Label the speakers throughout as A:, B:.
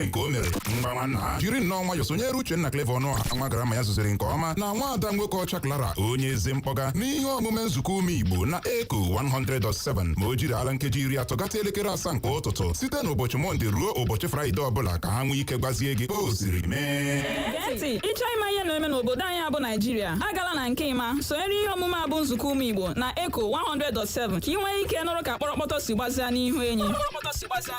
A: nke o mere mgbawa nna jiri nnọọ nwayọ sonyere Uchenna Clever Ọnụọha nwa grandma ya zụziri nke ọma na nwa ada nwoke ọcha Clara onye ezi mkpọga n'ihe omume nzukọ ụmụ Igbo na Eko 100.7 ma o jirila nkeji iri atọ gata elekere asaa nke ụtụtụ site n'ụbọchị Mọnde ruo ụbọchị Fraịde ọbụla ka ha nwee ike gbazie gị o siri mee Gee ntị ị
B: chọọ ịma ihe na-eme n'obodo anyị a bụ Naijiria agala na nke ịma sonyere ihe omume a bụ nzukọ ụmụ Igbo na Eko 100.7 ka ị nwee ike nụrụ ka kpọrọkpọtọ si gbazia n'ihu enyi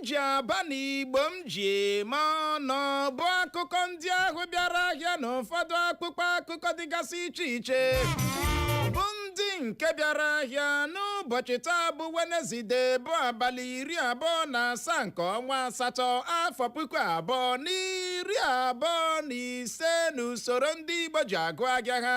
C: m ji aba na igbo m ji eme ọnụ ọ bụ akụkọ ndị ahụ bịara ahịa n'ụfọdụ akwụkwọ akụkọ dịgasị iche iche bụ ndị nke bịara ahịa n'ụbọchị taa bụ wenezide bụ abalị iri abụọ na asaa nke ọnwa asatọ afọ puku abụọ na iri abụọ na ise n'usoro ndị igbo ji agụ ahịa ha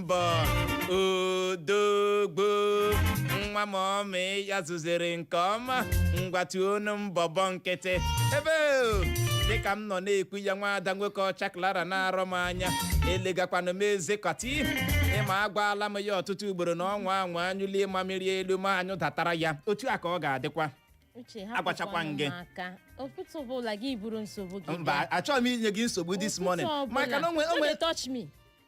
C: mbọ odogwu nwa mọmị ya zụziri nke ọma ngwa tuonu mbọbọ nkịtị ebe o, dịka m nọ na-ekwu ya nwa ada nwoke ọcha klara na-arọ m anya elegakwanụ m eze kọti ị ma agwaala m ya ọtụtụ ugboro na ọ nwaa anwa anyụlie mamịrị elu ma anyụdatara ya otu a ka ọ ga-adịkwa uche Agwachakwa hapụkwanụ gị. m aka ụtụtụ ọbụla gị buru nsogbu gị mba achọghị m inye gị nsogbu this morning maka na onwe onwe onwe touch me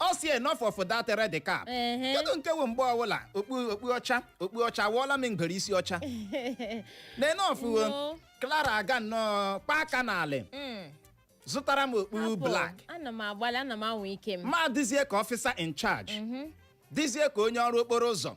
C: ọ sị enough of that red cap Ehe. kedu nke wụ mgbe ọbụla okpu okpu ọcha okpu ọcha wụọla m ngwere isi ọcha na enough wo No. Clara aga nnọọ kpaa aka n'alị Mm. zụtara m okpu Apụ, black ana m agbalị
D: ana m anwa ike m m adịzie ka ọfịsa
C: in charge dịzie ka onye ọrụ okporo ụzọ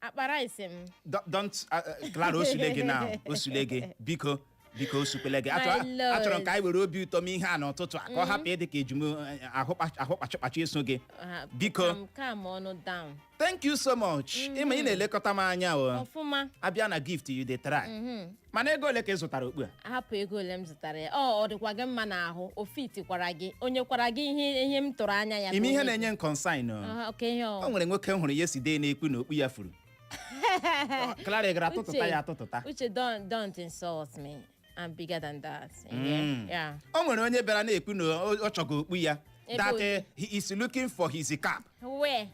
C: akpa rice
D: m
C: Don't- don't uh, uh,
D: Clara
C: osule gị na osule
D: gị
C: biko biko osukwele gị Achọ- My lord. achọrọ m ka anyị
D: were obi ụtọ
C: mee ihe a n'ụtụtụ a ka ọ hapụ ịdị ka eji m ahụ kpa- ahụ kpachụkpachụ eso gị Ah, Biko. calm- calm
D: ọnụ down thank you so much
C: ị ma ị na-elekọta m anya o ọfụma a
D: bịa na gift you
C: dey try mana ego ole ka ị zụtara okpu a hapụ ego ole
D: m zụtara ya ọ ọ dịkwa gị mma n'ahụ o fitikwara gị o nyekwara gị ihe ihe m tụrụ anya ya ị ma ihe ka o na-enye m concern
C: o. Aha, oke ihe o o nwere
D: nwoke m hụrụ
C: yesterday na-ekwu na okpu ya furu Clara gara atụtụta ya atụtụta uche don't
D: don't insult me i'm bigger than that Mm. yeah, yeah. o nwere onye bịara
C: na-ekwu na ọ ọ chọga okpu ya Ebe that onye. eh, he
D: is
C: looking
D: for
C: his cap where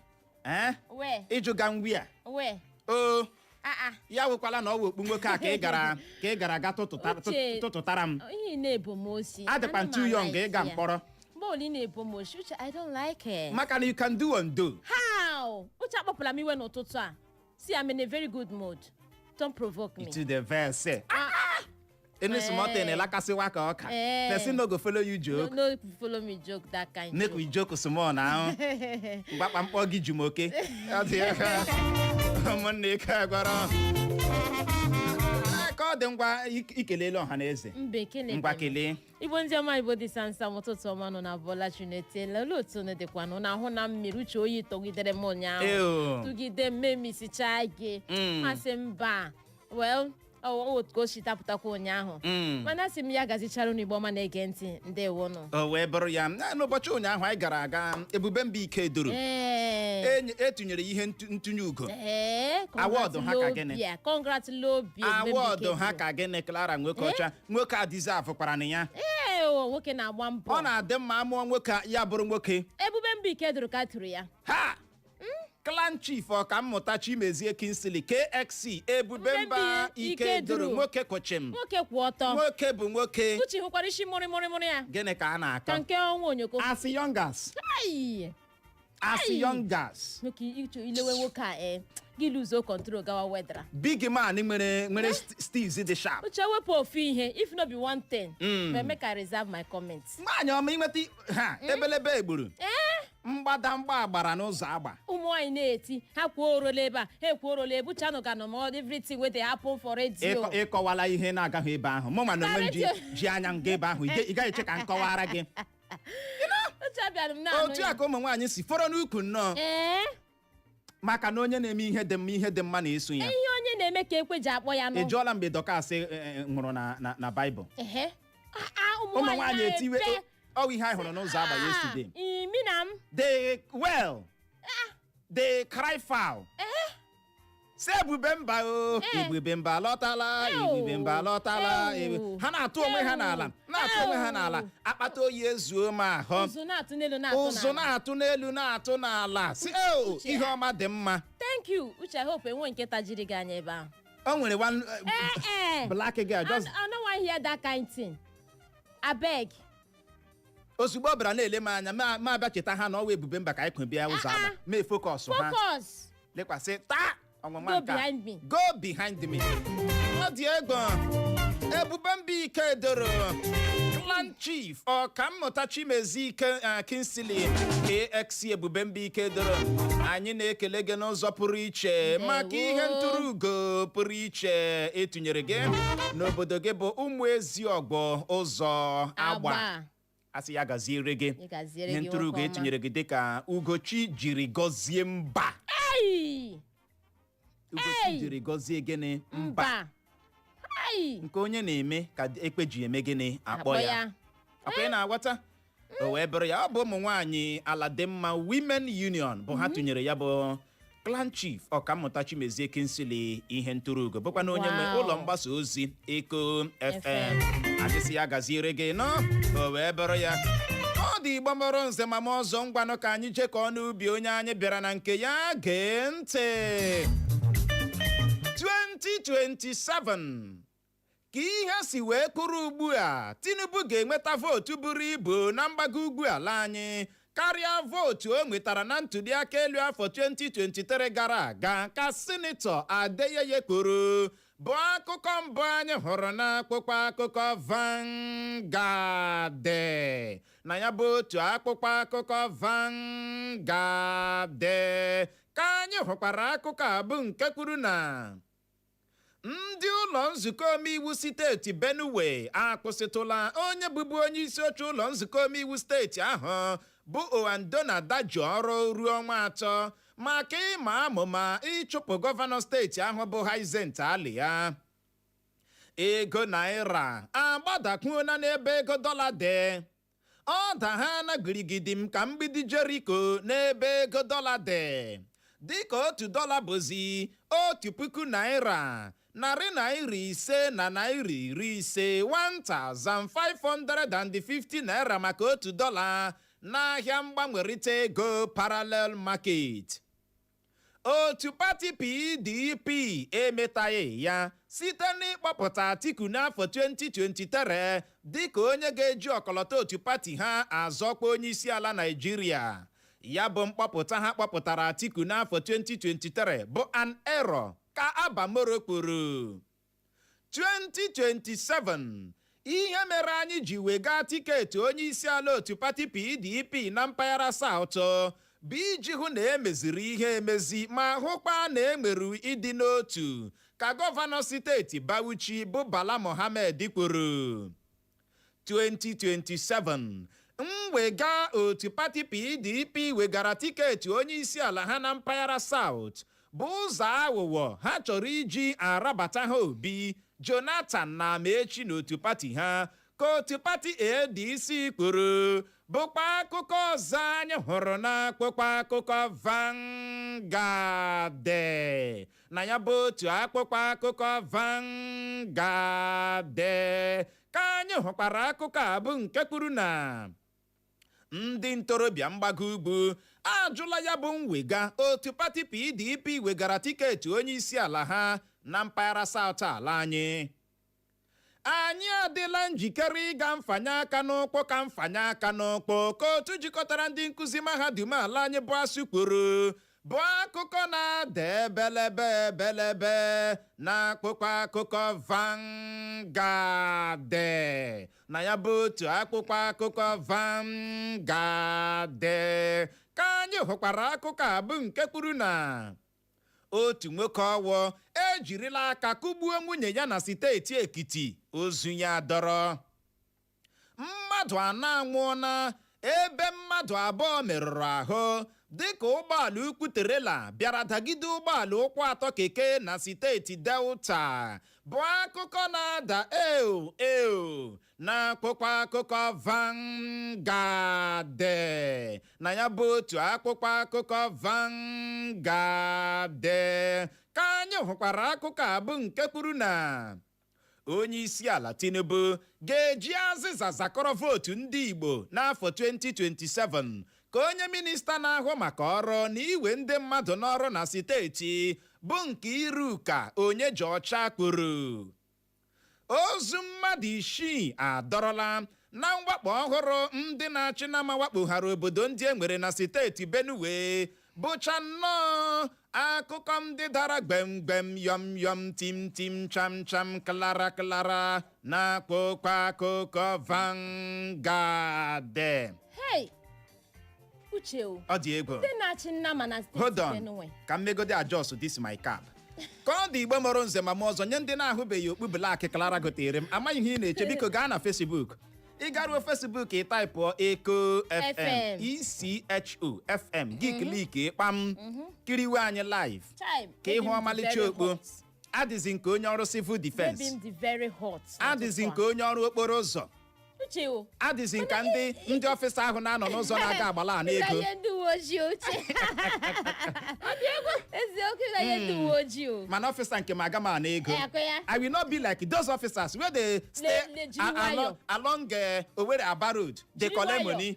D: ee where
C: ị jụga m where where oo aa ya wụkwala na ọ wụ okpu nwoke a ka ị gara ka ị gara ga tụtụta- Uche. tụtụtara
D: m ihe
C: ị na-ebo m osi
D: adịkwa m too young
C: ịga mkpọrọ bọọlụ ị na-ebo
D: m osi uche i don't like it maka na you can do
C: and do how
D: uche akpọpụla m iwe n'ụtụtụ a see i'm in a very good mood don't provoke me to dey vex
C: Ah, any small thing Eh. ịlakasịwa ka ọka Eh. person no go follow you no, joke no follow me
D: joke that kind make we joke small
C: now mgbakpa m kpọ gị Jumoke Ọ dị ya ka ụmụnne ike agwara ka ọ dị ngwa ik- ikelele ọha na eze mbe kele ngwa
D: kelee
C: igbo ndị ọma
D: igbo dị sansa ụtụtụ ọma unu abọla chi unu etela olee otu unu dịkwanụ na ahụ na mmiri uche oyi tụgidere m ụnyaahụ Ew. tụgide m m emisichaa gị Mm. m asị mba well ọ ọ otu ka o si dapụtakwa ụnyaahụ Mm. mana asị m ya gazichara unu igbo ọma na-ege ntị ndewonụ o wee bụrụ ya na
C: n'ụbọchị ụnyaahụ anyị gara aga ebube mba Ikeduru ee Enye- etinyere ihe ntu- ntụnye ugo ee Award ha ka gịnị? congratulobia congratulobia award ha ka gịnị Clara nwoke ọcha nwoke a deservekwaranụ ya ee o nwoke na-agba
D: mbọ ọ na-adị mma a
C: mụọ nwoke, ya bụrụ nwoke ebube mba Ikeduru
D: ka a tụrụ ya aha
C: clan chief ọkammụta Chimezie Kingsley KXC ebube Ebube mba Ikeduru Ikeduru. nwoke kwụ chịm nwoke kwụ ọtọ
D: nwoke bụ nwoke
C: uche hụkwara isi mụrịmụrịmụrị
D: ya gịnị ka a ka na-akọ nke
C: ọnwa onyoko as
D: young as
C: Ai! as Ai! young as nwoke ichu i
D: lewe nwoke a e gị luzuo control gawa wedra big man
C: nwere nwere st- steez dị sharp uche wepụ ofu ihe
D: if no be one thing Mm. but make i reserve my comment nwaanyị ọma i
C: nweta ha ebelebe egburu ee mgbadamgba agbara n'Ụzọagba ụmụ nwaanyị
D: na-eti ha kwuo orola ebe a ha ekwuo orola ebuchanụ ga nọ ma ọ dị everything wey dey happen for radio Ịkọ- ị kọwala ihe
C: na-agaghị ebe ahụ mụ ma na onwe m ji Karịtụ. ji anya m gaa ebe ahụ ị ga- ị gaghị eche ka m kọwara gị uche abịara m na-anụ otu ya a ka ụmụ nwaanyị si fọrọ n'ukwu nnọọ ee maka na onye na-eme ihe dị mma ihe dị mma na-eso ya ihe onye na-eme ka
D: ekwe ji akpọ ya ị nụ jụọla mgbe Dọkas
C: eh, eh, nwụrụ na- na- na Baịbụl ehe A- a, ụmụ ụmụ nwaanyị nwaanyị etiwe na-ete. ọ wụ ihe anyị hụrụ n'Ụzọagba Ah, yesterday imi na m dey wail dey cry foul sị ebube mba o Eh. ebube mba lọtala Ew. ebube mba lọtala Ew. ebe- ha na-atụ onwe ha Ew. n'ala na-atụ onwe ha Ew. n'ala akpata oyi ezuo m ahụ ụzụ na-atụ n'elu na-atụ ụzụ n'ala. na-atụ n'elu na-atụ n'ala sị "Ew, Uche. ihe ọma dị mma thank you uche
D: i hope enwe nke tajiri gị anya ebe ahụ o nwere one
C: eh, Eh, eh. black girl I, just I no wan hear that
D: kind thing abeg
C: ozugbo ọ bịara na-ele m anya ma mụ abịa cheta ha na ọ wụ ebube mba ka anyị kwo bịa Ụzọagba mee focus ha focus lekwasị taa ọnwụnwa go nke a. behind me go behind me ọ dị egwu ebube mba Ikeduru clan chief ọkammụta Chimezie eh, Kingsley KXC ebube mba Ikeduru anyị na-ekele gị n'ụzọ pụrụ iche maka ihe ntụrụ ugo pụrụ iche etu tụnyere gị n'obodo gị bụ Ụmụeziogwu Ụzọagba Agba. a sị ya gaziere gị Ị gaziere ihe gị ntụrụ ugo nwoke ọma. e tụnyere gị dịka ugochi jiri gọzie mba Ai! ugochi Ei! jiri gọzie gịnị mba Mba. Ai! nke onye na-eme ka ekwe ji eme gịnị akpọ ya akwa ị na-aghọta o wee bụrụ ya ọ bụ ụmụ nwaanyị aladịmma women union bụ ha tụnyere ya bụ clan chief ọkammụta Chimezie Kingsley ihe ntụrụ ugo bụkwanụ onye nwe Wow. ụlọ mgbasa ozi eko fm FM. anyị sị ya gaziere gị nnọọ o wee bụrụ ya ndị Igbo mụrụ nze ma mụọ ọzọ ngwanụ ka anyị jekọọ n'ubi onye anyị bịara na nke ya gee ntị 2027 Ka ihe si wee kwụrụ ugbu a, Tinubu ga-enweta vootu buru ibu na mgbago ugwu ala anyị karịa vootu o nwetara na ntuliaka elu afọ 2023 gara aga, ka Sinetọ Adeyeye kwuru, bụ akụkọ mbụ anyị hụrụ n'akwụkwọ akụkọ Vanguard. Na ya bụ otu akwụkwọ akụkọ Vanguard ka anyị hụkwara akụkọ a bụ nke kwuru na Ndị ụlọ nzukọ omeiwu steeti Benue akwụsịtụla onye bụbu onye isi oche ụlọ nzukọ omeiwu steeti ahụ bụ Aondona Dajoh ọrụ ruo ọnwa atọ maka ịma amụma ịchụpụ gọvanọ steeti ahụ bụ Hyacinth Alia. Ego naira agbadakwuola n'ebe ego dọla dị. ọ dahana girigidim ka mgbidi jeriko n'ebe ego dọla dị dịka otu dọla bụzi otu puku naira narị naira ise na naira iri ise 1550 naira maka otu dọla n'ahịa mgbanwerịta ego parallel market otu pati pdp emetaghị ya site n'ịkpọpụta atiku n'afọ 2023 dịka onye ga-eji ọkọlọtọ otu pati ha azọ ọkwa onyeisiala naijiria ya bụ mkpọpụta ha kpọpụtara atiku n'afọ 2023 bụ an error ka Abba Moro kwuru 2027 Ihe mere anyị ji wega tiketi onyeisiala otu pati PDP na mpaghara South bụ iji hụ na e meziri ihe emezi ma hụkwa na e nwere ịdị n'otu, ka gọvanọ steeti Bauchi bụ Bala Mohammed kwuru. 2027 mwega otu pati PDP wegara tiketi onyeisiala ha na mpaghara South bụ ụzọ aghụghọ ha chọrọ iji arabata ha Obi, Jonathan na Amaechi n'otu pati ha ka otu pati ADC kwuru bụkwa akụkọ ọzọ anyị hụrụ n'akwụkwọ akụkọ Vanguard na ya bụ otu akwụkwọ akụkọ Vanguard ka anyị hụkwara akụkọ a bụ nke kwuru na ndị ntorobịa mgbago ugwu ajụla ya bụ mwega otu pati PDP wegara tiketi onye isi ala ha na mpaghara South ala anyị anyị adịla njikere ịga mfanye aka n'ụkwụ ka mfanye aka n'ụkwụ ka otu jikọtara ndị nkụzi mahadum ala anyị bụ ASUU kwuru bụ akụkọ na-ada ebelebe ebelebe na akwụkwọ akụkọ Vanguard na ya bụ otu akwụkwọ akụkọ Vanguard ka anyị hụkwara akụkọ a bụ nke kwuru na otu nwoke Ọwọ ejirila aka kụgbuo nwunye ya na steeti ekiti ozu ya dọrọ mmadụ anọ anwụọla ebe mmadụ abụọ merụrụ ahụ dịka ụgbọala ukwu terela bịara dagide ụgbọala ụkwụ atọ keke na steeti delta bụ akụkọ na-ada eo eo n'akwụkwọ akụkọ Vanguard na ya bụ otu akwụkwọ akụkọ Vanguard ka anyị hụkwara akụkọ a bụ nke kwuru na onye isi ala Tinubu ga-eji azịza zakọrọ vootu ndị Igbo n'afọ 2027 ka onye minista na-ahụ maka ọrụ na iwe ndị mmadụ n'ọrụ na steeti bụ Nkeiruka Onyejeocha kwuru Ozu mmadụ isii adọrọla na mwakpo ọhụrụ ndị na-achị nama wakpoghara obodo ndị e nwere na steeti Benue bụcha nnọọ akụkọ ndị dara gbemgbem yọm yọm tim tim cham cham klara klara na akwụkwọ akụkọ Vanguard. Hey!
D: uche o ọ dị egwu ndị
C: na-achị nama
D: na steeti hold on benue
C: ka m
D: megodi
C: adjust this my cap ka ọ dị igbo mụrụ nze ma mụọ ọzọ nye ndị na-ahụbeghị okpu black Clara gotere m amaghị ihe ị na-eche biko gaa na Facebook ị garuo Facebook ị taịpụọ Echo FM FM. echo fm gị kliki kpam kiriwe anyị live Chime, ka ị hụ eji m ọmalịcha jidere okpu hot. adịzi m ka onye ọrụ civil Baby defense m dị very hot. adịzi n'ụtụtụ m ka onye ọrụ okporo ụzọ a. Uche o. adịzi m ka ndị ndị ọfịsa ahụ na-anọ n'ụzọ na-aga agbala ana ego Ịdanye ndị uwe ojii uche. Eziokwu ịdanye ndị uwe ojii o. mana ọfịsa nke m aga m ana ego Eh, akụ ya. i will not be like those officers wey dey stay Ne- ne- jiri a- along nwayọ. along eh, Owerri Aba road dey Jiri collect nwayọ. money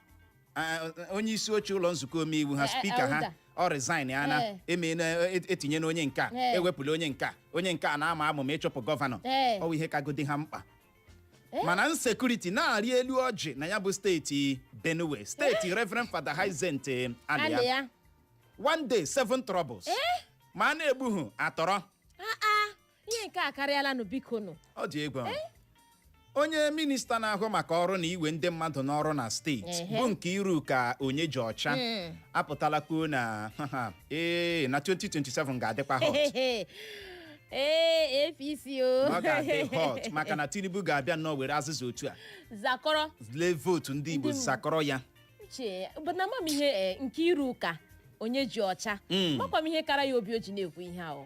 D: onye
C: isi oche ụlọ nzukọ omeiwu
D: ha
C: spika ha ọ resignịana etinyena onye nke a ewepụla onye nke a onye nke a na-ama amụma ịchụpụ gọvanọ ọ bụ ihe kagodi ha mkpa mana insecurity na-arị elu ọjị na ya bụ steeti benue steeti reverend father hyacinth alia one day seven troubles ma a na-egbuhu atọrọ
D: ihe nke a karịala nụ biko nụ ọ dị egwu
C: ahụ. onye minista na-ahụ maka ọrụ na iwe ndị mmadụ n'ọrụ na steeti Ehe. bụ nkeiruka onyejeocha Mm. apụtala kwuo na ee na 2027 ga-adịkwa hot Hehehe.
D: ee apc o ọ
C: ga-adị hot maka na tinubu ga-abịa nnọọ were azịza otu a
D: zakọrọ lee vootu
C: ndị igbo Ndị Igbo. zakọrọ ya uche bụ na
D: ama m ihe eh, nkeiruka onyejeocha Mm. amakwa m ihe kara ya obi o ji na-ekwu ihe ahụ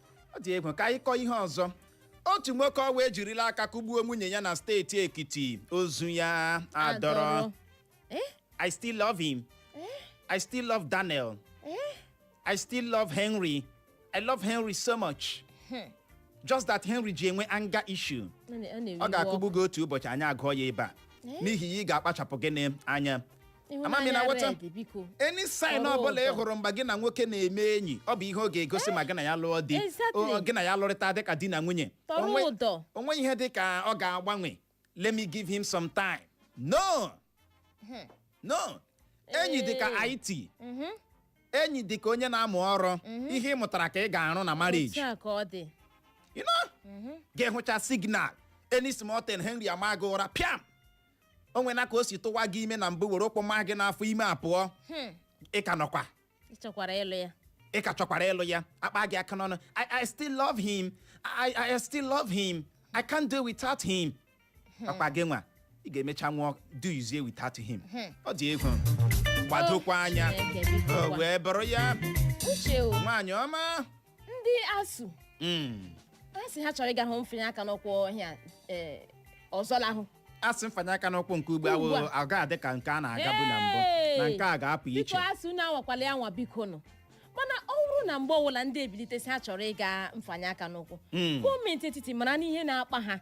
D: ọ dị egwu
C: ka anyị kọọ ihe ọzọ otu nwoke ọwa ejirila aka kụgbuo nwunye ya na steeti ekiti ozu ya adọrọ i still love him i still love daniel i still love henry i love henry so much just that henry ji enwe anger issue ọ ga-akụgbu gị otu ụbọchị anyị agụọ ya ebe a n'ihi ya ị ga-akpachapụ gịnị anya Ama m ị na-aghọta? Ịhụnanya red, biko. any sign Ọrụ ọbụla ị ụtọ. hụrụ mgbe gị na nwoke na-eme enyi ọ bụ ihe ọ ga-egosi ma gị na ya lụọ di exactly. o- gị na ya lụrịta dịka di na nwunye Tọrọ Onwe- ụdọ. o nweghị ihe dị ka ọ ga-agbanwe let me give him some time no no enyi dị ka Ee. IT Mhm. enyi dị ka onye na-amụ ọrụ ihe ị mụtara ka ị ga-arụ na marriage Otu a ka ọ dị. you know ga-ahụcha signal any small thing henry ama gị ụra pịam o nwena ka o si tụwa gị ime na mbụ were ụkwụ maa gị n'afọ ime apụọ Hmm, ị ka nọkwa ị chọkwara ịlụ ya ị ka chọkwara ịlụ ya akpa gị aka n'ọnụ I, I still love him I, I, I still love him I can't do without him akpa gị nwa ị ga-emecha nwụọ dozie without him ọ dị egwu gbadokwa anya Chineke, biko o gwa- wee bụrụ ya uche o nwaanyị ọma ndị
D: asuu Mm. asị ha chọrọ ịga hụ mfanye aka n'ụkwụ ọhịa eh, ọzọ lahụ asị mfanye aka
C: n'ụkwụ nke ugbu Ugbu awụ a. ọ ga-adị ka nke a na-agabu na mbụ na Hey! nke a ga-apụ iche biko asuu unu anwakwala ya
D: anwa biko nụ mana ọ bụrụ na mgbe ọbụla ndị a bilite sị ha chọrọ ịga mfanye aka n'ụkwụ Mm. gọọmenti etiti mara n'ihe na-akpa ha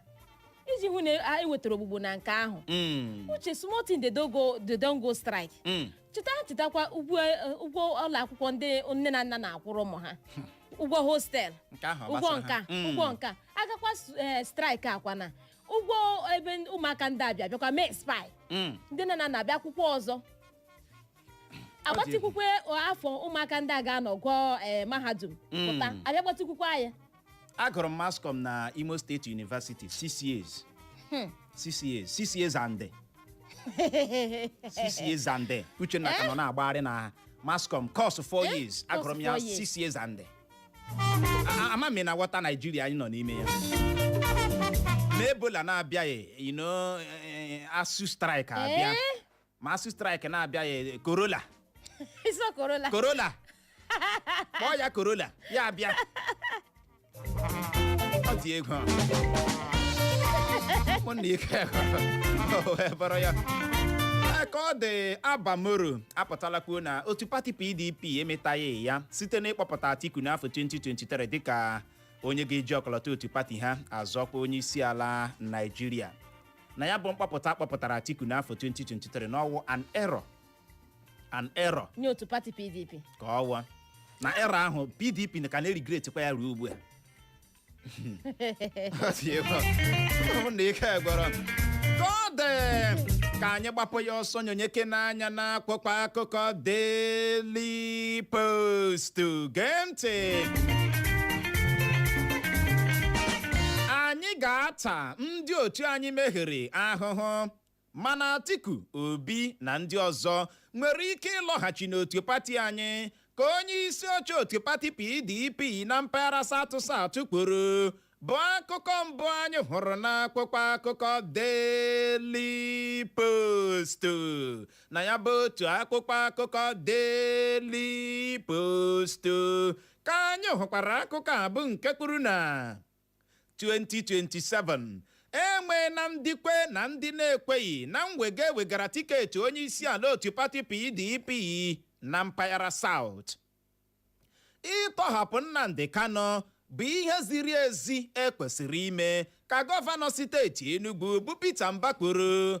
D: iji hụ na e wetara ogbugbo na nke ahụ Mm. uche small thing they don go they don go strike Mm. cheta chetakwa ụgwọ eh, ụgwọ ụlọ akwụkwọ ndị nne na nna na-akwụrụ ụmụ ha ụgwọ hostel nke ahụ ọ ụgwọ gbasara nka ha? Mm. ụgwọ nke a agakwa s- eh, strike akwụọna ụgwọ ebe n- ụmụaka ndị a bi abịakwa mee expire Mm. ndị nne na nna abịa kwụkwuo ọzọ agbatịkwukwe afọ ụmụaka ndị a ga-anọ gụọ eh, mahadum pụta Mm. abịa gbatịkwukwe ya agụrụ m
C: mass com na imo state university six years six years six years and day. six years and day. uchenna ka nọ na-agbagharị na mass com course four Eh? years Course agụrụ m ya four years. six years and day. A- a- ama m ị na-awọta naijiria anyị nọ n'ime ya ma ebola na-abịaghị you know, eh, ASUU strike abịa Eh? ma ASUU strike na-abịaghị e, korola iso korola korola kpọọ ya korola ya abịa ọ dị egwu ụmụnna ike o wee bụrụ ya Ee, ka ọ dị Abba Moro apụtala kwuo na otu pati pdp emetaghị ya site n'ịkpọpụta atiku n'afọ 2023 dịka onye ga-eji ọkọlọtọ otu pati ha azọ ọkwa onye isi ala naijiria na ya bụ mkpọpụta a kpọpụtara Atiku n'afọ 2023 na ọ wụ an error an error nye otu pati
D: pdp kọwaa
C: na error ahụ PDP ka na-erigretikwa ya ruo ugbu a Ọ dị egwu. Ọ bụ na ike gwụrụ m. Ka ọ dị, ka anyị gbapụ ya ọsọ nyonyekene anya n'akwụkwọ akụkọ Daily Post gee ntị anyị ga-ata ndị ndị otu anyị mehiere ahụhụ mana Atiku Obi na ndị ọzọ nwere ike ịlọghachi n'otu pati anyị ka onye isi oche otu pati PDP na mpaghara South South kwuru bụ akụkọ mbụ anyị hụrụ n'akwụkwọ akụkọ Daily Post na ya bụ otu akwụkwọ akụkọ Daily Post ka anyị hụkwara akụkọ a bụ nke kwuru na 2027 e nweela ndị kwe na ndị na-ekweghị na mwega e wegara tiketi onye isi ala otu pati PDP na mpaghara South. Ịtọhapụ Nnamdi Kanu bụ ihe ziri ezi e kwesịrị ime ka gọvanọ steeti Enugu bụ Peter Mba kwuru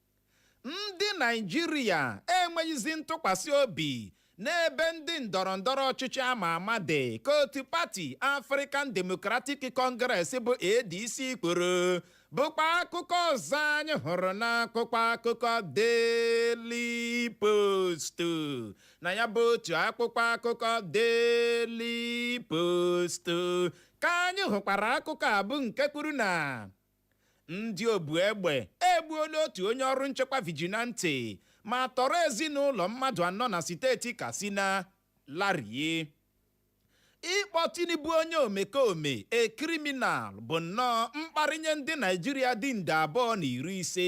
C: ndị naijiria enweghịzi ntụkwasị obi n'ebe ndị ndọrọ ndọrọ ọchịchị ama ama dị ka otu pati African Democratic Congress bụ ADC kwuru bụkwa akụkọ ọzọ anyị hụrụ n'akwụkwọ akụkọ Daily Post na ya bụ otu akwụkwọ akụkọ Daily Post ka anyị hụkwara akụkọ a bụ nke kwuru na Ndị obu egbe egbuola otu onye ọrụ nchekwa vigilante ma tọrọ ezinụlọ mmadụ anọ na steeti Katsina larie. Ịkpọ Tinubu onye omekome, a criminal, bụ nnọọ mkparị nye ndị Naịjirịa dị nde abụọ na iri ise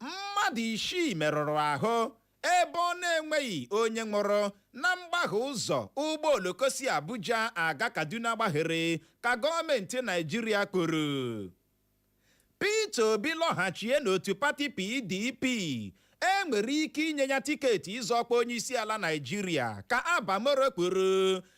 C: mmadụ isii merụrụ ahụ ebe ọ na-enweghị onye nwụrụ na mgbahie ụzọ ụgbọ oloko si Abuja aga Kaduna gbahiere ka gọọmenti Naijiria kwuru Peter Obi lọghachie n'otu pati PDP enwere ike inye ya tiketi ịzọ ọkwa onyeisiala Naijiria ka Abba Moro kwuru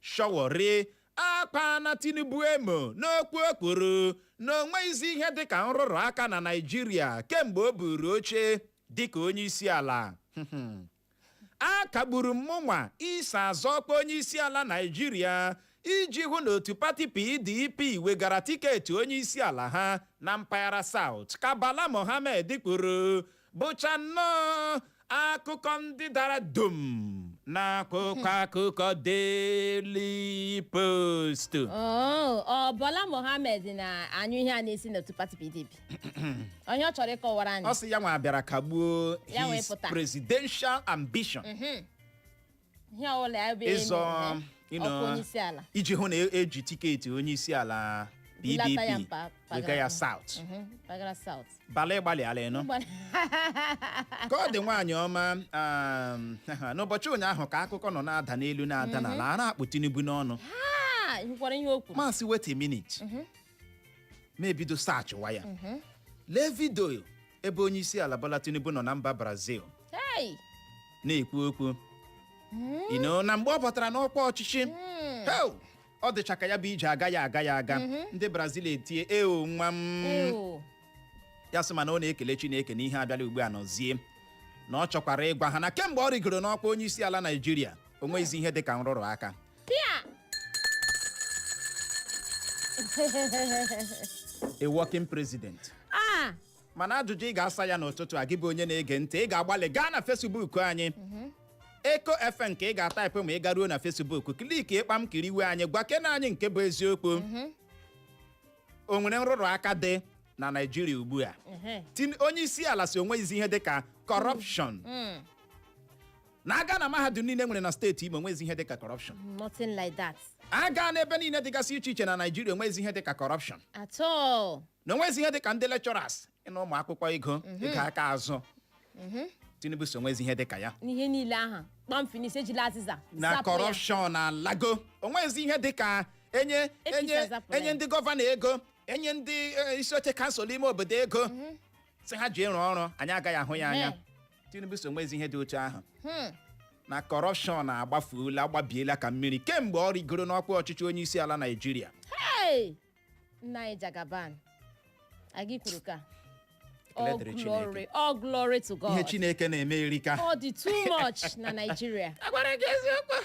C: Sowore akpaala Tinubu emo n'okwu o kwuru na o nweghịzi ihe dịka nrụrụ aka na Naịjirịa kemgbe o buuru oche dịka onyeisiala. Akagburu m mụnwa iso azọ ọkwa onyeisiala Naịjirịa iji hụ na otu pati PDP wegara tiketi onyeisiala ha na mpaghara South, ka Bala Mohammed kwuru bụcha nnọọ akụkọ ndị dara dum n'akwụkwọ akụkọ Daily Post Oo, ọ
D: Bala Mohammed na-anyụ ihe a na-esi n'otu pati PDP onye ọ chọrọ ịkọwara anyị ọ sị ya nwa bịara
C: kagbuo his presidential ambition
D: ihe ọbụla ya bụ ịzọ ọkwa onye isi ala iji hụ na e- eji
C: tiketi onye isi ala PDP wega ya mpaghara. South Mhm, mpaghara South. Bala ị gbalịala ị nụ ka ọ dị nwaanyị ọma um, n'ụbọchị ụnyaahụ ka akụkọ nọ na-ada n'elu na-ada n'ala a na-akpụ Tinubu n'ọnụ Ah, ị hụkwara ihe o kwuru m asị wait a minute mụ ebido sachịwa ya lee vidio ebe onye isi ala Bola Tinubu nọ na mba Brazil Hey! na-ekwu okwu you know, na mgbe ọ batara n'ọkwa ọchịchị ọ dịcha ka ya bụ ije agaghị aga ya aga ndị Brazil etie ewo nwa m Ew. ya sị mana ọ na-ekele Chineke na ihe abịala ugbu a nọzie na ọ chọkwara ịgwa ha na kemgbe ọ rịgoro n'ọkwa onye isi ala Naijiria o nweghịzi ihe dị ka nrụrụ aka Pia! a working president Ah! mana ajụjụ ị ga-asa ya n'ụtụtụ a gị bụ onye na-ege ntị ị ga-agbalị gaa na Facebook anyị Eko FM nke ị ga-ataịpụ ma ị garuo na Facebook kliki kpam kiriwe anyị gwakene anyị nke bụ eziokwu o nwere nrụrụ aka dị na Naịjirịa ugbu a Ehe. Tin- onye isi ala sị o nweghịzi ihe dị ka corruption na a gaa na mahadum niile e nwere na steeti Imo onwezi ihe dịka corruption nothing
D: like that a gaa na ebe
C: niile dịgasị iche iche na Naịjirịa onwezi ihe dịka corruption at all
D: na onwezi ihe dịka
C: ndị lecturers ịna ụmụ akwụkwọ ego ego aka azụ Tinubu sị onwezi ihe dịka ya n'ihe niile
D: ahụ kpam finish ejila azịza zapụ ya. na corruption
C: na lago onwezi ihe dịka enye ndị gọvanọ ego enye ndị eh, isi oche kansụl ime obodo ego sị ha jiri rụọ ọrụ anyị agaghị ahụ ya anya Ehe. tinubu sị onwezi ihe dị otu ahụ Hmm. na kọrọpshọn agbafuola gbabiela ka mmiri kemgbe ọ rigoro n'ọkwa ọchịchị onye isi ala naijiria Hey!
D: Nna anyị Jagaban. Anyị kwuru ka. All Ekele dịrị Chineke. glory, all glory to God. ihe chineke na-eme
C: erika Ọ dị too much
D: na Nigeria. agwara gị eziokwu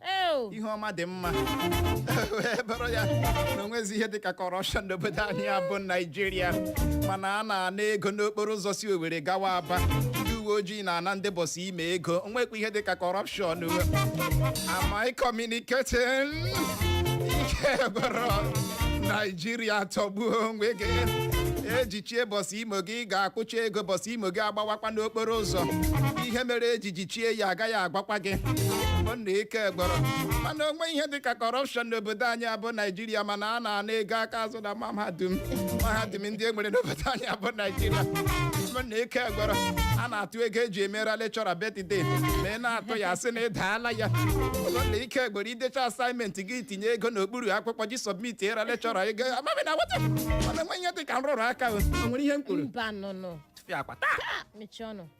C: Ew. ihe ọma dị mma wee bụrụ ya na onwezi ihe dịka kọrọpshọn n'obodo anyị a bụ naijiria mana a na-ana ego n'okporo ụzọ si owere gawa aba ndị uwe ojii na-ana ndị bọsụ imo ego onwekwa ihe dịka kọrọpshọn am I communicating ike gwụrụ naijiria tọgbuo onwe gị ejichie bọsụ imo gị ị ga-akwụcha ego bọsụ imo gị agbawakwa n'okporo ụzọ ihe mere eji ji chie ya agaghị agwakwa gị ọ na ike gwụrụ mana onwe ihe dịka kọrọpshọn n'obodo anyị a bụ naijiria mana a na-ana ego aka azụ na mahadum mahadum ndị e nwere n'obodo anyị a bụ naijiria ọ na ike gwụrụ a na-atụ ego eji emera lekchọra birthday ma ị na-atụ ya sị na ị daala ya ọ na ike gwụrụ idecha asaịmentị gị tinye ego n'okpuru akwụkwọ gị sọbmitere lekchọra ego ama m ị na-aghọta mana onwe ihe dị ka nrụrụ aka o nwere ihe m kwuru mba nụnụ
D: tụfịakwa taa
C: mechie ọnụ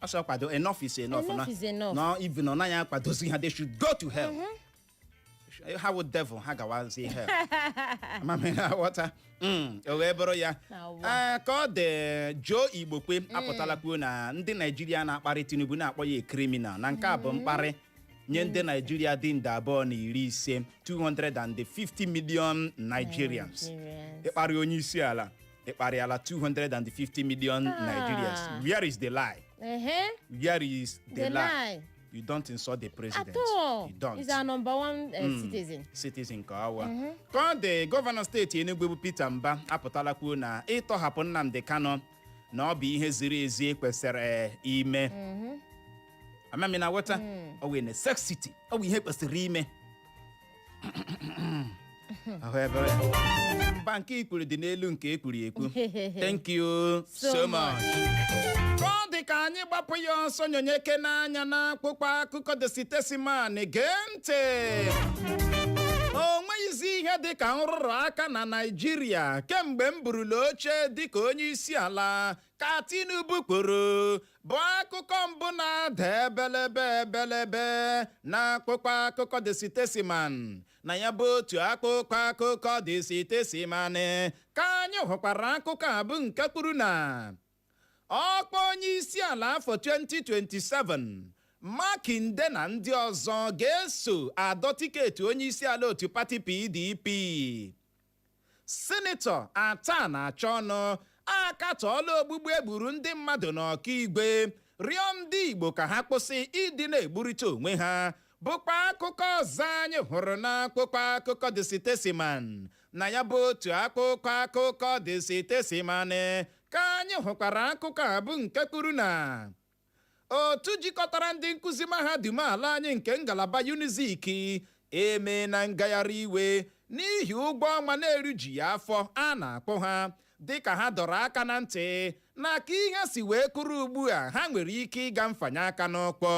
D: ọ sị kwado enough
C: is enough Enough na- is enough.
D: na even ọ
C: naghị akwadozi ha they should go to hell ha wụ devil ha gawazie hell ama m ị na-aghọta Mm, o wee bụrụ ya Na ụwa. Ee, ka ọ dị Joe Igbokwe apụtala kwuo na ndị Naijiria na-akparị Tinubu na-akpọ ya criminal na nke a bụ mkparị nye ndị Naijiria dị nde abụọ na iri ise 250 million Nigerians Nigerians. ịkparị onye isi ala ị kparịala 250 million Ah. nigerians where is the lie ehe where is the, the lie lie you don't insult the president at all you don't he's
D: our number
C: one
D: eh, Mm. citizen citizen ka awa
C: Mhm. ka ọ dị gọvanọ steeti Enugu bụ Peter Mba apụtala kwuo na ịtọhapụ Nnamdi Kanu na ọ bụ ihe ziri ezi kwesịrị eh, ime Mhm. ama m ị na-aghọta Mm. ọ wụ necessity ọ bụ ihe kwesịrị ime ahụ ebere ya mba nke ikwuru dị n'elu nke ekwuru ekwu thank you so, So much ka ọ dị ka anyị gbapụ ya ọsọ nyonyekene anya n'akpụkpọ akụkọ The Statesman gee ntị o nweghịzi ihe dị ka nrụrụ aka na naijiria kemgbe m burula oche dịka onye isi ala ka Tinubu kwuru bụ akụkọ mbụ na-ada ebelebe ebelebe na akpụkpọ akụkọ The Statesman na ya bụ otu akpụkpọ akụkọ The Statesman ka anyị hụkwara akụkọ a bụ nke kwuru na ọkwa onye isi ala afọ 2027 makinde na ndị ọzọ ga-eso adọ tiketi onye isi ala otu pati PDP Sinetọ Athan Achonu akatọọla ogbugbu e gburu ndị mmadụ n'Okigwe, rịọ ndị Igbo ka ha kwụsị ịdị na-egburịta onwe ha bụkwa akụkọ ọzọ anyị hụrụ n'akwụkwọ akụkọ The Statesman. Na ya bụ otu akwụkwọ akụkọ The Statesman ka anyị hụkwara akụkọ a bụ nke kwuru na otu jikọtara ndị nkụzi mahadum ala anyị nke ngalaba unizik emeena ngagharị iwe n'ihi ụgwọ ọnwa na-erujughị afọ a na-akwụ ha dịka ha dọrọ aka na ntị na ka ihe si wee kwụrụ ugbu a ha nwere ike ịga mfanye aka n'ụkwụ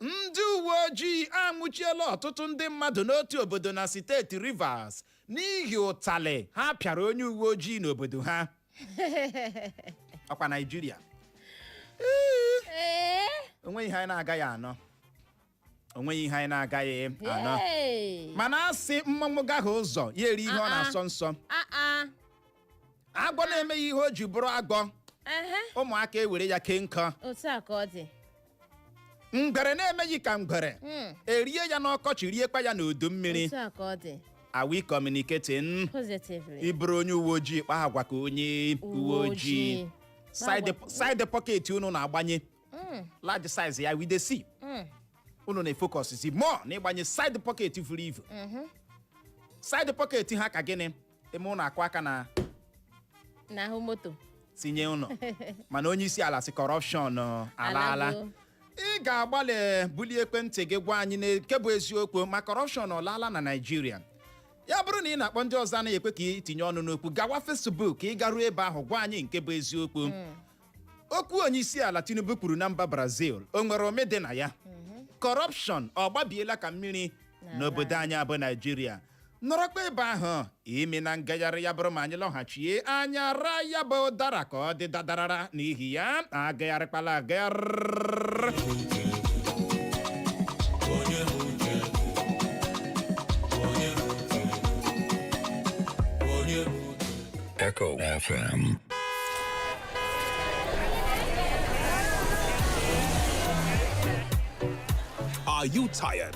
C: ndị uwe ojii anwụchiela ọtụtụ ndị mmadụ n'otu obodo na steeti Rivers n'ihi ụtalị ha pịara onye uwe ojii n'obodo ha ọkwa Naịjirịa Ee, onweghị ihe anyị na-agaghị anụ onweghị ihe anyị na-agaghị anụ yay. mana a sị mmọnwụ gahie ụzọ ya erie ihe ọ Ah, ah. na-asọ nsọ Ah, ah. agwọ na-emeghị ihe o ji bụrụ agwọ ehe ụmụaka ewere ya kee nkụ otu a ka ọ dị ngwere na-emeghị ka ngwere Mm, erie
D: ya
C: n'ọkọchị riekwa ya
D: n'udu
C: mmiri otu a ka ọ dị are we communicating positively ị
D: bụrụ onye uwe
C: ojii kpaa agwa ka onye uwe ojii side Agwa- side pocket unu na-agbanye Mm, large size ya we dey see mm, unu na-efocus zi more na ịgbanye side pocket vuru ivu mhm. side pocket ha ka gịnị ime ụlọ akụ aka n'ahụ
D: moto tinye
C: ụlọ mana onye isi ala sị kọrọpshọn uh, alaala Alago. ị ga-agbalị bulie ekwentị gị gwa anyị nke bụ eziokwu ma kọrọpshọn ọlaala na naijiria ya bụrụ na ị na-akpọ ndị ọzọ anaghị ekwe ka ị tinye ọnụ n'okwu gawa fesbuk ka ị garuo ebe ahụ gwa anyị nke bụ eziokwu okwu onye isi ala tinubu kwuru na mba brazil o nwere ome dị na ya kọrọpshọn ọ gbabiela ka mmiri N'ala. n'obodo anyị a bụ naijiria nọrọkwa ebe ahụ emena ngagharị ya bụrụ ma anyị lọghachie anyị araa ya bụ ụdara ka ọ dị dadarara n'ihi ya agagharịkwala agagharị Echo FM.
E: Are you tired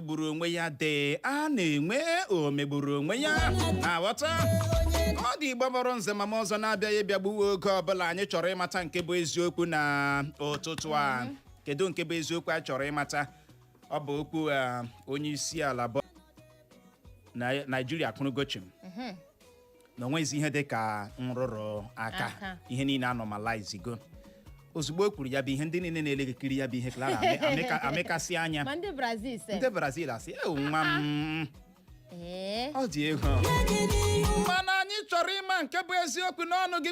C: gburu onwe ya dị a na-enwe omegburu onwe ya na-aghọta ọ dị igbo bọrọ nze ma m ọzọ na-abịaghị ịbịagbuwe oge ọbụla anyị chọrọ ịmata nke bụ eziokwu na ụtụtụ a kedu nke bụ eziokwu a chọrọ ịmata ọ bụ okwu ah, onye isi ala bụ Nai- naijiria kwuru gochim na onweghịzi ihe dị ka nrụrụ aka Aka. ihe niile anọmalizigo ozugbo o kwuru ya bụ ihe ndị niile na-elekiri ya bụ ihe clara amịkasị anya ma ndị brazil se
D: ndị brazil
C: asị ewu nwa m ee ọ dị egwu mana anyị chọrọ ịma nke bụ eziokwu n'ọnụ gị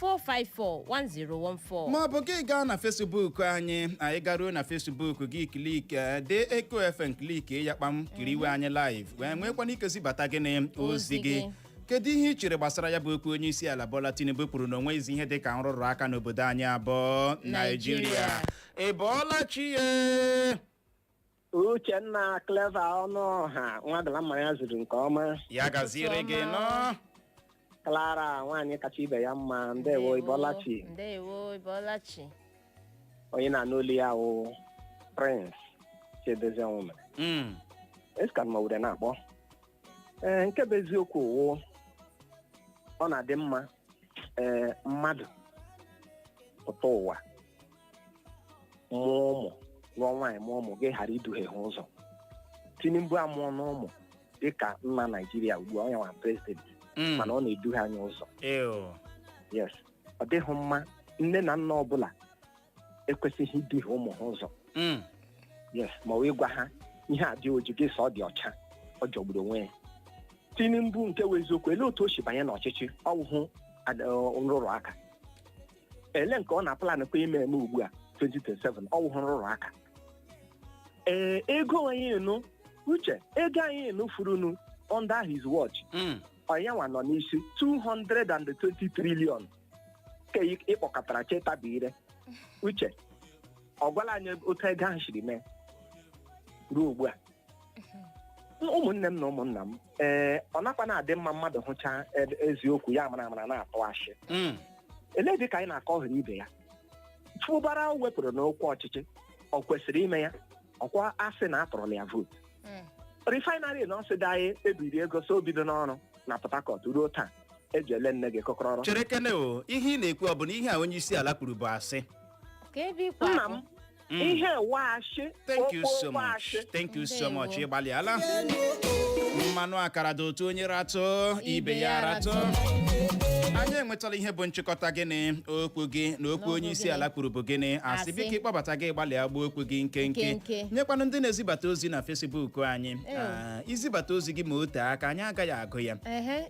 D: 4541014. ma ọ bụ gị gaa
C: na fesbuk anyị anyị garuo na fesbuk gị klik eh, dee eko fm klik ya kpam kiriwe anyị live wee nwekwana ike zibata gịnị ozi Ozi gị gị. kedu ihe ị chere gbasara ya bụ okwu onye isi ala Bola Tinubu kwuru na onweghịzi ihe dị ka nrụrụ aka n'obodo anyị a bụ Naijiria. Naijiria ị bọọla chi ya
F: uchenna clever ọnụọha nwadala mma ya zuru nke ọma ya gaziere gị
C: ọma. nọ
F: clara nwaanyị kacha ibe ya mma ndewo ị bọọla chi ndewo ị bọọla chi onye ị na-anụ olu ya wụ prince chiedozie ọnwụmere Mm, eskan ma were na-akpọ ee nke bụ eziokwu wụ ọ na-adị mma ee mmadụ pụta ụwa mụọ ụmụ lụọ nwaanyị mụọ ụmụ gị ghara iduhie ha ụzọ tinubu amụọna ụmụ dịka nna naijiria ugbu a ọ yanwa prezidenti Mm. mana ọ na-eduhie anyị ụzọ Ew. yes ọ dịghị mma nne na nna ọbụla ekwesịghị iduhie ụmụ ha ụzọ Mm. yes ma wee gwa ha ihe a dị oji gị sị ọ dị ọcha ọ jọgburu onwe ya tinubu nke wụ eziokwu ele otu o si banye n'ọchịchị ọ wụhụ ad- ọ, nrụrụ aka ele nke ọ na-aplan kwa ime eme ugbu a 2027 ọ wụhụ nrụrụ aka ee ego anyị nụ uche ego anyị nụ furunu under his watch Mm. ọ yanwa nọ n'isi 220 trillion ka ị- ịkpọkọtara chetabi ire uche ọ gwala anyị otu ego ahụ siri mee ruo ugbu a ụmụnne m na ụmụnna m ee ọ nakwa na-adị mma mmadụ hụcha ed- eziokwu ya mara amara na-atụ ashị Mm. ele dị ka anyị na-akọ ọ hụrụ ibe ya Fubara o wepụrụ n'ọkwa ọchịchị ọ kwesịrị ime ya ọkwa a sị na a tụọrọla ya vootu Mm. refinery na ọsịda anyị ebiri ego sị o bidona ọrụ na port harcourt ruo taa eji ele nne gị kọkọrọ cherekene o ihe
C: ị na-ekwu ọ bụ na ihe a onye isi ala kwuru bụ asị ka ebe ikwe nna
F: m Mm. ihe wụ ashị thank you so
C: much thank you so much Ndewo. ị gbalịala mmanụ akara dị ụtọ onye ratụ ibe ya ratụ anyị enwetala ihe bụ nchịkọta gịnị okwu gị na okwu N'okwu onye isi gịnị? ala kwuru bụ gịnị asị Asị. biko ị kpọbata gị gbalịa gbuo okwu gị nkenke Nkenke. nyekwanụ ndị na-ezibata ozi na fesibuk anyị Ew. Ah, i zibata ozi gị ma o tee aka anyị agaghị agụ ya Ehe,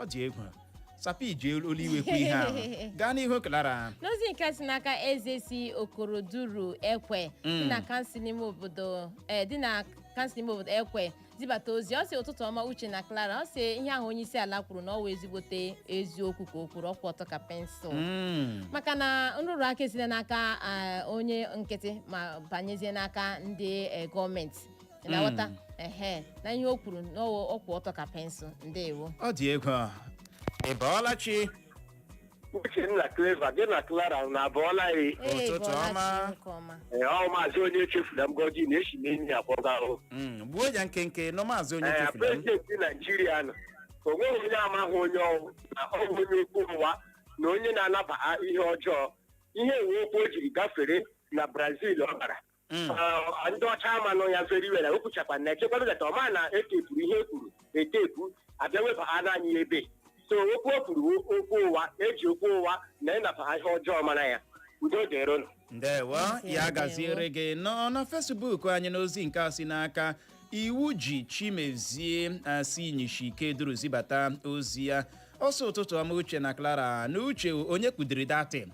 C: ọ dị egwu sapi ji olu iwe kwu ihe ahụ gaa n'ihu clara n'ozi nke si
D: n'aka eze si okoroduru ekwe obodo eh, dị na kansụl n'ime obodo ekwe zibata ozi ọ sị ụtụtụ ọma uche na clara ọ sị ihe ahụ onye isi ala kwuru na ọ wụ ezigbote eziokwu ka o kwuru ọ kwụ ọtọ ka pensụl Mm. maka na nrụrụ aka esite n'aka ah, onye nkịtị ma banyezie n'aka ndị eh, gọọmenti Ị na-aghọta ehe na ihe o kwuru na ọ ọ kwụ ọtọ ka pensụl ndewo ọ dị egwu
C: a. ị bọọla
G: chi uchenna clever gị na clara na abọọla ya Ee, Ụtụtụ bọọla
C: ọma. chi nke ọma. ee ọ maazị
G: onye echefula mgọji na-esi n'enyi akpọga ahụ Mm, gbuo ya
C: nkenke nnọọ maazị onye echefula m prezidenti
G: naijiria nọ o nweghị onye amaghị onye ọ wụ na ọ bụ onye okwu ụwa na onye na-anabaghị ihe ọjọọ ihe wụ okwu o jiri gafere na brazil ọ gara Mm. Ọ- ndị ọcha amanụ ya very well o kwuchakwa na echekwado that ọ ma na etepuru ihe e kwuru etepu abịa weba ha naanị ya ebe so okwu o kwuru wụ okwu ụwa eji okwu ụwa na anabaghị ihe ọjọọ mara ya udo dịrị ụnụ ndewo ya
C: gaziere gị nọ na fesbuk anyị n'ozi nke a si n'aka iwuji chimezie si inyishi ikeduru zibata ozi ya ọ sị ụtụtụ ọma uche na clara na uche onye kudiri datin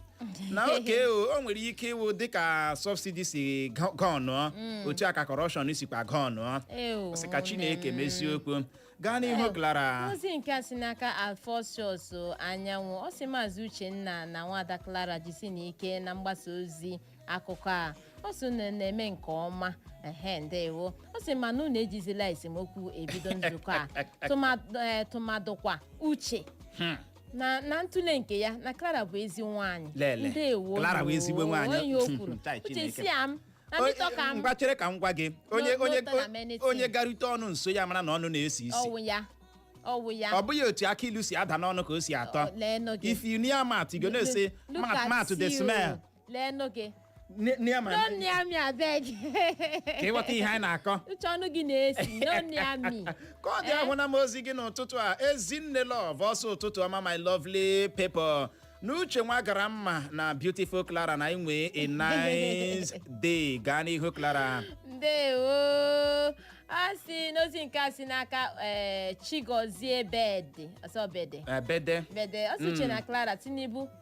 C: na oke o o nwere ike ịwụ dịka sọbsidi si gọ- gọnụọ otu a ka kọrọpshọn sikwa gọnụọ Ew, sị ka chineke mezie okwu gaa n'ihu clara ozi nke a si n'aka
D: alphonsus anyanwụ ọ sị maazị uchenna na nwada clara jisinụ ike na mgbasa ozi akụkọ a ọ sị unu na-eme nke ọma ehe ndewo ọ sị ma na unu ejizila esemokwu ebido nzukọ a tụmadụ eh, tụmadụkwa uche Hmm. na na ntụle nke ya na Clara bụ ezi nwaanyị Lele, ndewo Clara bụ ezigbo nwaanyị.
C: onye o kwuru Chai,
D: uche Chineke. si ya m na O- mịtọ ka m ngwa chere ka m gwa
C: gị onye no onye turn am anything. onye garute ọnụ nso ya mara na ọnụ na-esi isi ọ wụ ya ọ
D: wụ ya ọ bụghị otu akị ilu si
C: ada n'ọnụ ka o si atọ Ọ- lee nụ gị. if you near mouth you go know say Look mouth at dey you. smell lee nụ
D: gị No near me-
C: no near
D: me abeg ka
C: ịghọta ihe anyị na-akọ uche ọnụ gị
D: na-esi no near me ka ọ dị ahụna m
C: ozi gị n'ụtụtụ a ezinne love ọ sị ụtụtụ ọma my lovely people na uche nwa gara mma na beautiful clara na inwe a nice day gaa n'ihu clara
D: ndewo a sị n'ozi nke a si n'aka eh, chigozie bede ọ sị bede ebede bede ọ sị uche na clara tinubu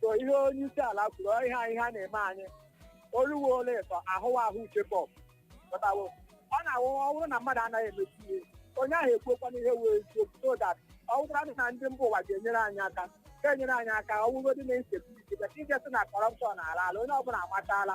F: so ihe onye isi ala kwuru ọ ihe anyị ha na-eme anyị oluwe ole ịtọ ahụwa ahụ uche bọb pụtawo ọ na-awụ ọ bụrụ na mmadụ anaghị emechi ihe onye ahụ ekwuokwanụ ihe wụ eziokwu so that ọ wụkwara na ndị mba ụwa ga-enyere anyị aka ga-enyere anyị aka ọ wụgodị na insecurity but ị ga-asị na kọrọpshọn alaala onye ọbụla amatala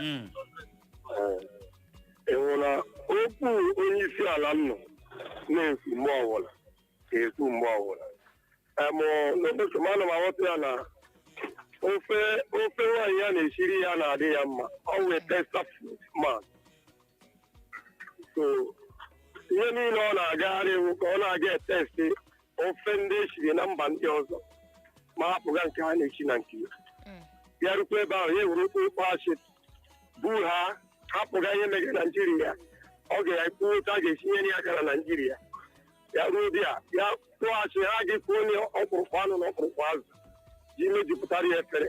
G: Mm. ị hụrụ na okwu onye isi ala nọ na-ekwu mgbe ọbụla ga-ekwu mgbe ọbụla emụ n'ụbọchị m ana m aghọta ya na ofe nwaanyị ya na-esiri ya na-adị ya mma ọ wee testa ma so ihe niile ọ na-agagharị wụ ka ọ na-aga etesti ofe ndị esiri na mba ndị ọzọ ma hapụga nke ha na-esi na nke ya Mm. ya rukwa ebe ahụ ya ewere okpokpo asị bu ha hapụga ihe megara naijiria ọ ga-ekwu otu a ga-esi nyere ya aka na naijiria ya ruo bịa ya kpụọ asị ha ga-ekunye ọkpụrụkpụ anụ na ọkpụrụkpụ azụ ji mejupụtara ya efere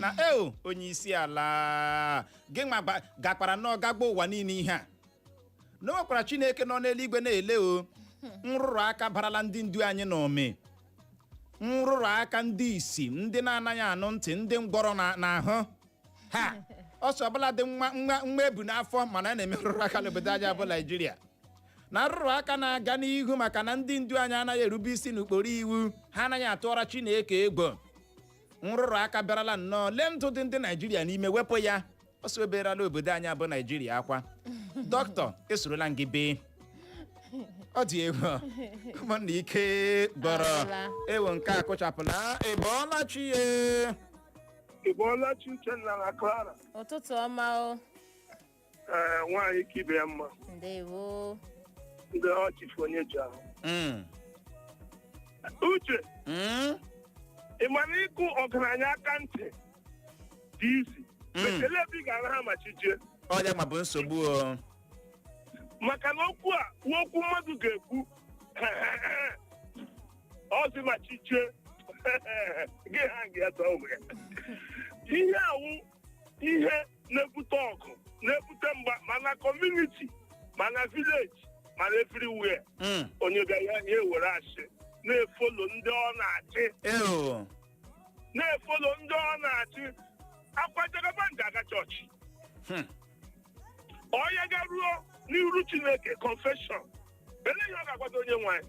C: na eo onye isi ala gị nwa gba- gakwara nnọọ gagba ụwa niile ihe a na o nwekwara chineke nọ n'eluigwe na-ele o nrụrụ aka barala ndị ndu anyị n'ụmị nrụrụ aka ndị isi ndị na-anaghị anụ ntị ndị ngwọrọ na-anaghị aga ọsọ ọbụladị nwa ebu n'afọ ma na a na-eme nrụrụ aka n'obodo anyị bụ naijiria na nrụrụ aka na-aga n'ihu maka na ndị ndu anyị anaghị erube isi n'ụkpụrụ iwu ha anaghị atụọra chineke egwu nrụrụ aka bịarala nnọọ lee ndụ dị ndị naijiria n'ime wepụ ya o sebierala obodo anyị bụ naijiria akwa dọkịta esorola m gị bee ọ dị egwu ụmụnna ike gwụrụ ewo nke a kụchapụla ị bọọla chi
G: ya Ị bọọla chi Uchenna na Clara. ụtụtụ ọma
D: o
G: ee nwaanyị ka ibe ya mma
D: ndewo
G: ndị ọchịfụ onye ji ahụ Mm. uche Mm. ị mara ịkụ ọgaranya aka ntị dị easy Mm. ma kelee ebe ị ga-araha ma chi jie ọ ya nwa bụ
C: nsogbu
G: o maka na okwu a nwa okwu mmadụ ga-ekwu ọzi ma chi jie gị ha gị atọ ụmụ ya ihe awụ ihe na-ebute ọgụ na-ebute mgba ma na community ma na village ma na everywhere Mm. onye ga ya ya ewere asị na-efolo ndị ọ na-achị Eo. na-efolo ndị ọ na-achị akwa jagaban ji aga chọọchị Hmm. ọ ya garuo n'iru chineke confession ele ihe ọ ga-agwado onye nwe anyị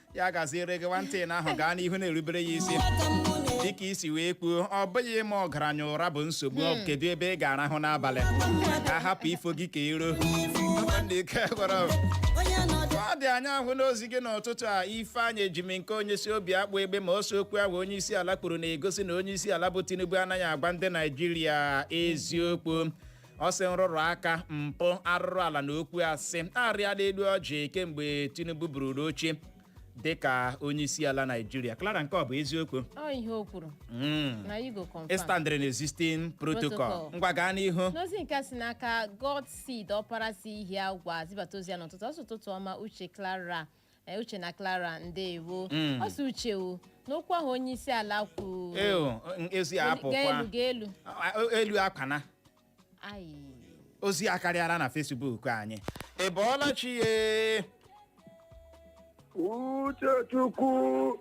C: ya gaziere gị nwantịị na ahụ gaa n'ihu na-erubere ya isi dịka i si wee kwuo ọ bụghị ịma ọgaranya ụra bụ nsogbu kedu ebe ị ga-arahụ n'abalị ka a hapụ ifo gị ka ero ọ dị anyị ahụna ozi gị n'ụtụtụ a ifeanyị ejimnkeonye si obiakpụ egbema ọ sị okwu ahụ onye isi ala kwuru na-egosi na onye isi ala bụ tinubu anaghị agwa ndị naijiria eziokwu ọ sị nrụrụ aka mpụ arụrụ ala na okwu asị arịala elu ọjị kemgbe tinubu bururu oche dịka onye isi ala naijiria clara nke ọ bụ eziokwu ọ ihe o
D: kwuru Mm. na you go confirm ị standịrị na
C: existing protocol Protocol. ngwa gaa n'ihu n'ozi nke a si
D: n'aka god seed ọpara si ihiagwa zibata ozi ya n'ụtụtụ ọ sị ụtụtụ ọma uche clara Eh, uche na clara ndewo Mm. ọ sị uche o n'okwu ahụ onye isi ala kwuru eo ezi ga
C: apụkwa elu ga elu A- a- elu akwana ayi ozi akarịala na fesbuk anyị ị bọọla chi
G: ye Uchechukwu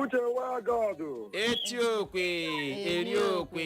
G: Uche nwa God eti okwe
C: eri okwe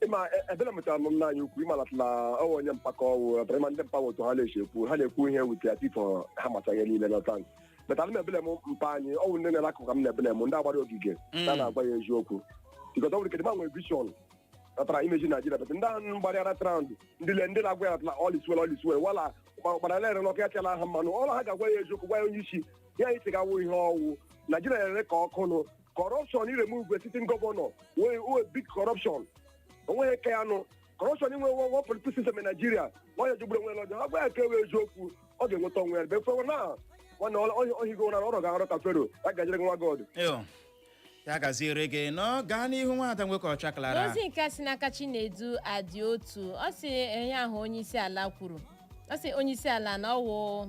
G: ịma e- ebere mụtara m nna anyị ukwu ịmalatala ọwa onye mpako ọwụ ọtara ịma ndị mpa otu ha na-esi ekwu ha na-ekwu ihe wute as if ha macha ihe niile n'ọta anyị but ana m eblame mpa anyị ọwụ ndị na-ele akụkụ ka m na-eblame ndị gbara ogige Mm. na na-agwa ya eziokwu because ọ nwere kedị ma nwere vision natara imeji naijiria but ndị ahụ gbarịara around ndị le ndị na-agwa ya natara all is well all is well wala gbara lere n'ọkụ ya chala ha mmanụ ọla ha ga-agwa ya eziokwu gwa ya onye isi ya anyị si ga-awụ ihe ọwụ naijiria na-ere ka ọkụ nụ corruption iremove a sitting governor wụ wụ big corruption onweghị ka ya nụ corruption inwe nwe one political system in Nigeria nwa ya jọgburu onwe ya n'ọjọọ agwa ya ka ewe eziokwu ọ ga-enweta onwe ya befe na nwanne ohigo na ọrụ ga-arụ ka fero ya gaziere nwa god Yo,
C: ya gaziere gị nnọọ gaa n'ihu nwada nwoke ọcha clara n'ozi nke si n'aka
D: chinedu adị otu ọ sị ihe ahụ onye isi ala kwuru ọ sị onye isi ala na ọwụ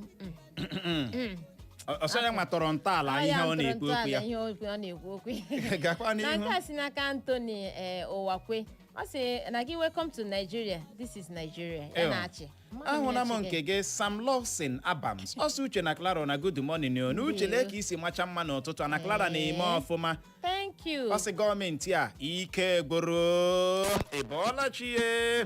C: ọ sọ ya nwa tọrọ ntọala Ọ ihe ya ọ ntụrụ na-ekwu okwu ntọala ya ihe okwu ọ na-ekwu okwu ya. gakwa na nke n'ihu a
D: si
C: n'aka Anthony
D: eh, Ụwakwe ọ sị na gị welcome to Nigeria this is Nigeria ya Ew. na-achị Mmadụ ahụla m na-achị
C: nke gị sam lawson abams ọ sị uche na clara na good morning o na uche lee ka i si macha mma n'ụtụtụ a na clara na-eme Ee. ọfụma thank you ọ
D: sị gọọmenti a
C: ike gwụrụ ịbọọla chi ye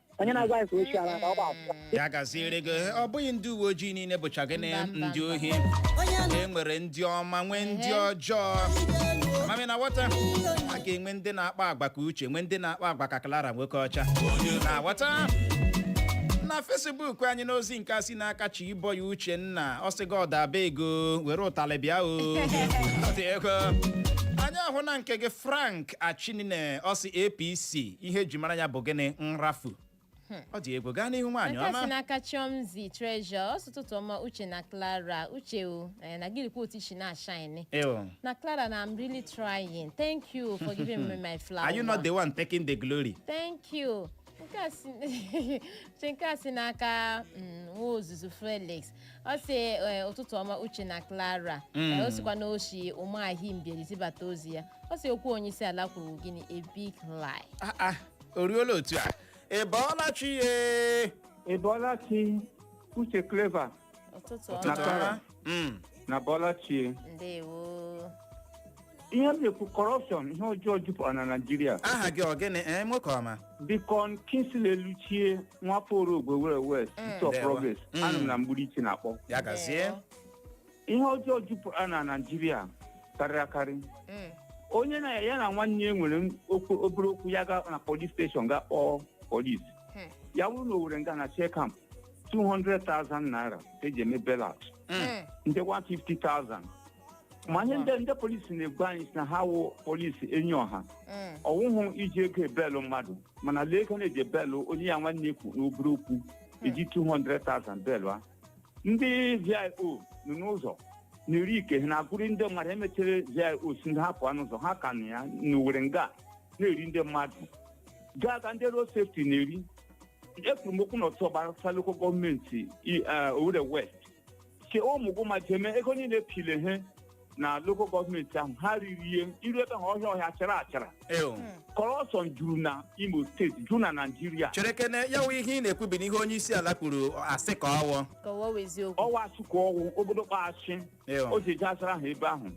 H: onye na-agwa anyị ka o chiara ka ọ gba akwụkwọ ya gaziere
C: gị ọ bụghị ndị uwe ojii niile bụcha gịnị Mba, mba, ndị mba. ohi e nwere ndị ọma nwee ndị Ehe. ọjọọ ma m na-aghọta a ga-enwe ndị na-akpa agwa ka uche nwee ndị na-akpa agwa ka clara nwoke ọcha bata na fesbuk anyị n'ozi nke a si n'aka chiboy uchenna ọ sị god abeg o were ụtalị bịa o Ọ dị egwu anyị ahụna nke gị frank achinine ọ sị apc ihe eji mara ya bụ gịnị nrafu ọ dị egwu gaa n'ihu nwaanyị nke a si ọma n'aka
D: chiomzy treasure ọ sị ụtụtụ ọma uche na clara uche o eh, na gị lekwa otu i si na-ashine Ew. na clara na i'm really trying thank
C: you
D: for
C: giving
D: me my
C: flower are
D: you
C: not the
D: one
C: taking
D: the glory
C: thank you nke a si
D: uche nke a si n'aka mm, nwa ozuzu felix ọ sị ee, ụtụtụ ọma uche na clara Mm. Ee, ọ sịkwa na o shi ụmụahị mbieri zibata ozi ya ọ sị okwu onye isi ala kwuru gịnị a big lie Ah, ah, o ruola
C: otu a ị bọọla chi
I: ye Ị bọọla chi Uche Clever ụtụtụ ọma na
D: Clara. Mm. na
I: bọọla chi ndewo ihe m na-ekwu kọrọpshọn ihe ọjọọ jupụtara na naijiria aha gị ọ gịnị
C: ee nwoke ọma deacon
I: kingsley eluchie nwafọ orogwe owere west isi of Ndewo. progress Mm. anọ m na mgbirichi na-akpọ ya gazie
C: ihe
I: ọjọọ jupụtara na naijiria karịrị akarị Mm. onye na ya na nwanne ya nwere m- okwu- obere okwu ya ga na polis steshọn ga kpọọ polis Hmm. ya bụrụ na owere nga na shell camp 200,000 naira ka e ji eme bail out Mm. Mm. ndị 150,000 ma ihe ndị ndị polisi na-agwa anyị sị na ha wụ polisi enyi ọha Mm. ọ wụhụ iji ego ebelụ mmadụ mana lee ego na-eji ebelụ onye ya nwanne kwuru obere okwu e ji 200,000 belụ ya ndị vio nọ n'ụzọ na-eri ike ha na-agụrụ ndị mmadụ e mechiri vio sị ha pụọ n'ụzọ ha ka nọ ya n'owere nga na-eri ndị mmadụ gaa ka ndị road safety na-eri ekwuru m okwu n'otu ọ gbasara lokal gọọmenti i- eh, Owerri West ke ụmụguma jeme ego niile pile ihe na lokal gọọmenti ahụ ha riri ihe i ru ebe ahụ ọhịa ọhịa achara achara Ew. kọrọpshọn juru na imo steeti juru na naijiria cherekene ya wụ
C: ihe ị na-ekwu bụ n'ihe onye isi ala kwuru asị ka ọ wụ ka ọ wụ eziokwu
I: ọ wụ asị ka ọ wụ obodo kpaghachi Ew. o ji eji azara ha ebe ahụ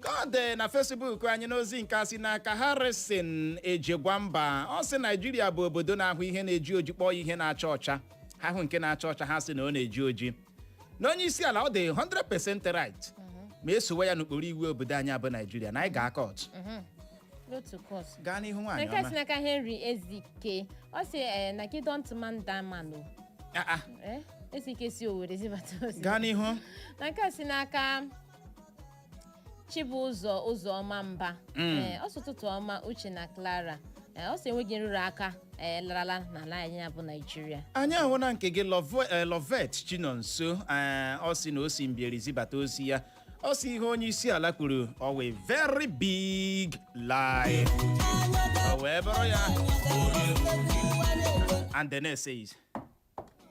C: ka ọ dị na fesbuk anyị n'ozi nke a si n'aka harrison ejegwamba ọ sị naijiria bụ obodo na-ahụ ihe na-eji oji kpọọ ya ihe na-acha ọcha ha hụ nke na-acha ọcha ha sị na ọ na-eji oji na onye isi ala ọ dị 100% right ma e sowe ya n'okpuru iwu obodo anyị a bụ naijiria na anyị gaa kọọtụ n'otu kọs gaa n'ihu nwaanyị ọma na nke si n'aka
D: henry ezike ọ sị ee na gị dont man da man o Ah, ah, Eh, ezike si owere zibata ozi gaa n'ihu na
C: nke a si n'aka
D: Chibụzọ Ụzọma Mba Mm. ee, ọ sị ụtụtụ ọma Uche na Clara ee, ọ sị enweghị nrụrụ aka ee, larala n'ala anyị a bụ Naịjirịa anyị ahụna nke gị
C: Love- eh, lovet chinonso eh, ọ sị na o si mbieri zibata ozi ya ọ sị ihe onye isi ala kwuru ọ wụ a very big lie o wee bụrụ ya and the next says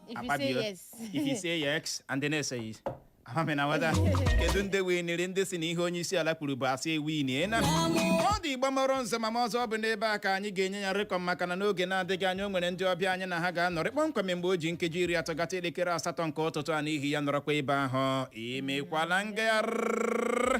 C: If you say Akpabio. yes. If you say yes and then say yes. Amami na wada. Kedu ndị winiri ndị sị na ihe onye isi ala kwuru bụ asị ewinina ọ dị igba mọrọ nze ma ma ọzọ ọ bụ n'ebe a ka anyị ga-enye ya rịkọm maka na n'oge na-adịghị anya o nwere ndị ọbịa anyị na ha ga-anọrị kpọmkwem mgbe o ji nkeji iri atọ gata elekere asatọ nke ụtụtụ a n'ihi ya nọrọkwa ebe ahụ imekwala ngagharị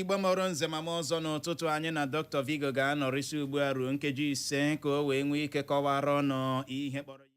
C: igbo mụrụ nze mụọ ọzọ n'ụtụtụ anyị na dr vigo ga-anọrị si ugbu a ruo nkeji ise ka o wee nwee ike kọwara ụnụ ihe kpọrọ ya